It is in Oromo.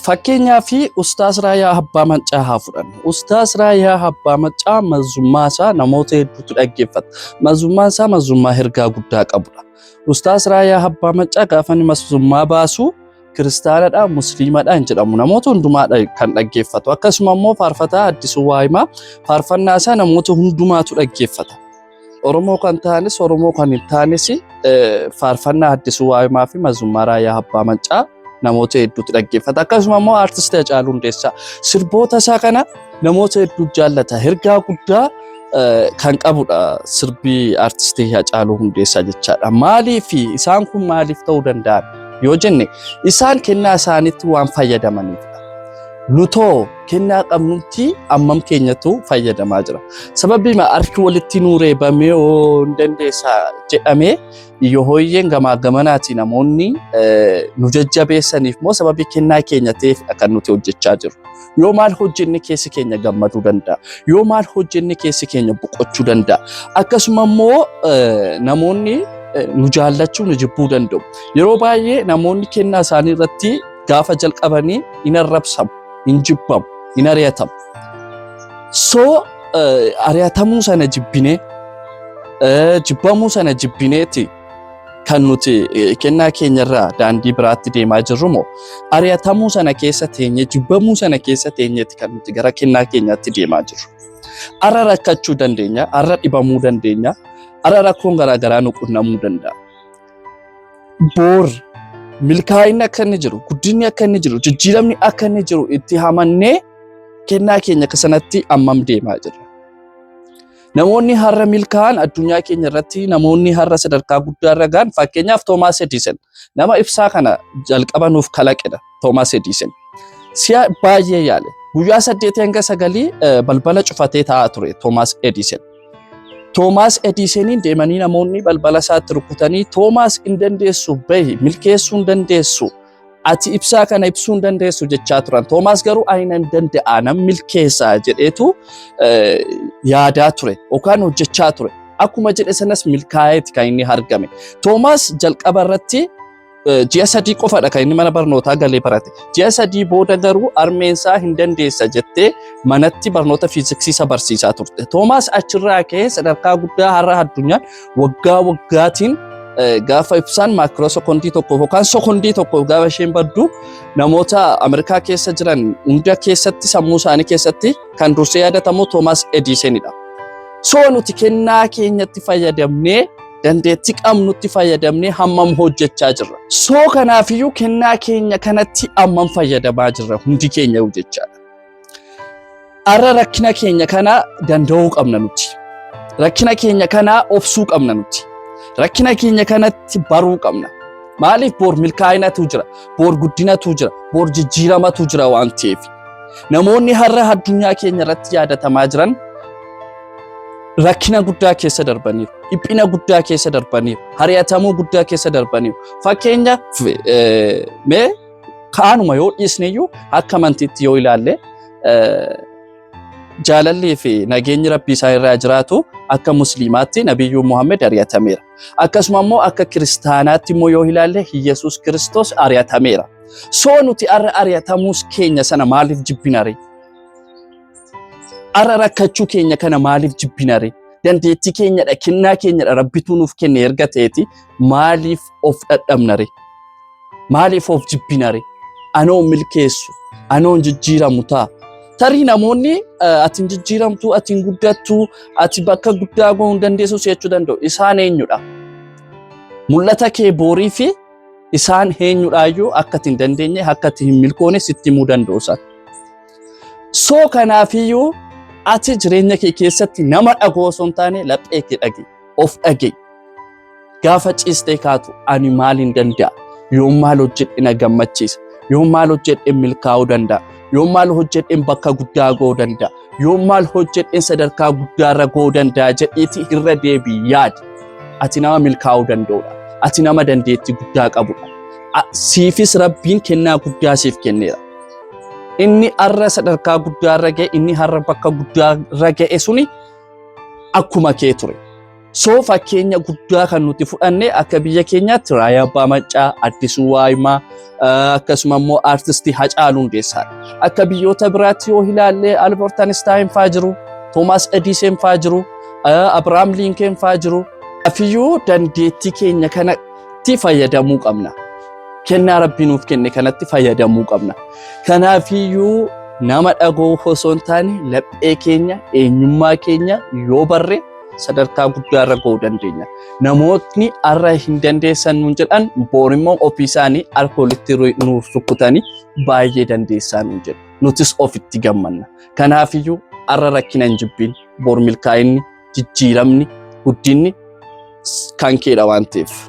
Fakkeenyaa fi Ustaas Raayaa Abbaa Maccaa haa fudhannu. Ustaas Raayaa Abbaa Maccaa mazummaa isaa namoota hedduutu dhaggeeffata. Mazummaan isaa mazummaa ergaa guddaa qabudha. Ustaas Raayaa Abbaa Maccaa gaafa inni mazummaa baasu kiristaanadha, musliimadha hin jedhamu. Namoota hundumaadha kan dhaggeeffatu. Akkasuma immoo faarfataa Addisuu Waayimaa faarfannaa isaa namoota hundumaatu dhaggeeffata. Oromoo kan ta'anis Oromoo kan hin taanes faarfannaa Addisuu Waayimaa fi Mazummaraa Yaa Abbaa Mancaa namoota hedduutti dhaggeeffata. Akkasuma immoo aartisti Hacaaluu Hundeessaa sirboota isaa kana namoota hedduu jaallata. Ergaa guddaa kan qabudha sirbii aartistii Hacaaluu Hundeessaa jechaadha. Maaliif isaan kun maaliif ta'uu danda'an yoo jenne isaan kennaa isaaniitti waan fayyadamaniifidha. Nutoo kennaa qabnutti ammam keenyatu fayyadamaa jira. Sababii harki walitti nuu reebamee yoo hin dandeessa jedhamee yoo hooyyeen gamaa gamanaatii namoonni nu jajjabeessaniif moo sababii kennaa keenya ta'eef kan nuti hojjechaa jiru. Yoo maal hojjenne keessi keenya gammaduu danda'a. Yoo maal hojjenne keessi keenya boqochuu danda'a. Akkasuma immoo namoonni nu jaallachuu nu jibbuu danda'u. Yeroo baay'ee namoonni kennaa isaanii irratti gaafa jalqabanii hin arrabsamu, hin jibbamu, hin ari'atamu. Soo ari'atamuu sana jibbinee jibbamuu sana jibbineeti kan nuti kennaa keenyarraa daandii biraatti deemaa jirru moo ari'atamuu sana keessa teenye jibbamuu sana keessa teenyeeti kan nuti gara kennaa keenyaatti deemaa jirru. Arra rakkachuu dandeenya, arra dhibamuu dandeenya, arra rakkoon garaagaraa nu qunnamuu danda'a. boor milkaa'inni akka inni jiru, guddinni akka inni jiru, jijjiiramni akka inni jiru itti hamannee kennaa keenya akka sanatti ammam deemaa jirra. Namoonni har'a milkaa'an addunyaa keenya irratti namoonni har'a sadarkaa guddaa irra ga'an fakkeenyaaf Toomaas Ediisan nama ibsaa kana jalqaba nuuf kalaqedha. Toomaas Ediisan. Si'a baay'ee yaale. Guyyaa saddeetii hanga sagalii balbala cufatee taa'aa ture Toomaas Ediisan. Toomaas Ediisaniin deemanii namoonni balbala isaatti rukutanii Toomaas hin dandeessu bahi milkeessuu hin dandeessu ati ibsaa kana ibsuu hin dandeessu jechaa turan. Toomaas garuu aina hin danda'a nan milkeessaa jedheetu yaadaa ture yookaan hojjechaa ture. Akkuma jedhe sanas milkaa'eeti kan inni argame. Toomaas jalqaba irratti ji'a sadii qofadha kan inni mana barnootaa galee barate. Ji'a sadii booda garuu armeensaa hin dandeessa jettee manatti barnoota fiiziksiisa barsiisaa turte. Toomaas achirraa ka'ee sadarkaa guddaa har'a addunyaan waggaa waggaatiin gaafa ibsaan maakiroo sekondii tokkoof yookaan sekondii tokkoof gaafa isheen baddu namoota Ameerikaa keessa jiran hunda keessatti sammuu isaanii keessatti kan dursee yaadatamu Toomaas Ediisenidha. So nuti kennaa keenyatti fayyadamnee dandeettii qabnutti fayyadamnee hammam hojjechaa jirra. Soo kanaafiyyuu kennaa keenya kanatti hammam fayyadamaa jirra hundi keenya jechaadha. Har'a rakkina keenya kana danda'uu qabna nuti. Rakkina keenya kana obsuu qabna nuti. Rakkina keenya kanatti baruu qabna. Maaliif boor milkaa'inatu jira, boor guddinatu jira, boor jijjiiramatu jira waan ta'eef. Namoonni har'a addunyaa keenya irratti yaadatamaa jiran rakkina guddaa keessa darbaniiru, dhiphina guddaa keessa darbaniiru, hari'atamuu guddaa keessa darbaniiru. Fakkeenya eh, mee kaanuma yoo dhiisneyyuu akka amantiitti yoo ilaalle eh, jaalallii fi nageenyi rabbii isaa irraa jiraatu akka musliimaatti nabiyyuu Muhammad ari'atameera. Akkasuma immoo akka kiristaanaatti immoo yoo ilaalle Iyyasuus Kiristoos ari'atameera. Soo nuti arra ari'atamuus keenya sana maaliif jibbinare? Ara rakkachuu keenya kana maaliif jibbinare? Dandeettii keenyadha, kennaa keenyadha rabbituu nuuf kenne erga ta'eeti maaliif of dhadhabnare? Maaliif of jibbinare? Anoo milkeessu, anoo jijjiiramu ta'a. Tarii namoonni ati hin jijjiiramtu, ati hin guddattu, ati bakka guddaa gahuu hin dandeessu si jechuu danda'u. Isaan eenyudha? Mul'ata kee boorii fi isaan eenyudhaayyuu akka ati hin dandeenye, akka ati hin milkoone sitti himuu danda'u isaan. Soo kanaafiyyuu ati jireenya kee keessatti nama dhagoo osoo hin taane laphee kee dhage of dhage gaafa ciistee kaatu ani maal hin danda'a yoon maal hojjedhe na gammachiisa yoon maal hojjedhe milkaa'uu danda'a yoon maal hojjedhe bakka guddaa ga'uu danda'a yoon maal hojjedhe sadarkaa guddaarra ga'uu danda'a jedhiiti irra deebii yaadi ati nama milkaa'uu danda'udha ati nama dandeettii guddaa qabudha siifis rabbiin kennaa guddaa siif kenneera. Inni har'a sadarkaa guddaa irra ga'e, inni har'a bakka guddaa irra ga'e suni akkuma kee ture. So fakkeenya guddaa kan nuti fudhanne akka biyya keenyaatti Raayyaa Abbaa Maccaa, Addisuu Waayimaa, eh, akkasuma immoo aartistii Hacaaluu Hundeessaadha. Akka biyyoota biraatti yoo ilaalle Albert Einstein faa jiru, Thomas Edison faa jiru, eh, Abraham Lincoln faa jiru. Afiyyuu dandeettii keenya kana kanatti fayyadamuu qabna. Kennaa Rabbii nuuf kenne kanatti fayyadamuu qabna. Kanaafiyyuu nama dhagoo osoo hin taane laphee keenya eenyummaa keenya yoo barre sadarkaa guddaa irra ga'uu dandeenya. Namootni har'a hin dandeessan nuun jedhan boor immoo ofii isaanii alkoolitti nuuf rukkutanii baay'ee dandeessaa nuun jedhu. Nutis ofitti gammanna. Kanaafiyyuu har'a rakkina hin jibbiin boor milkaa'inni jijjiiramni guddinni kan keedha waan ta'eef.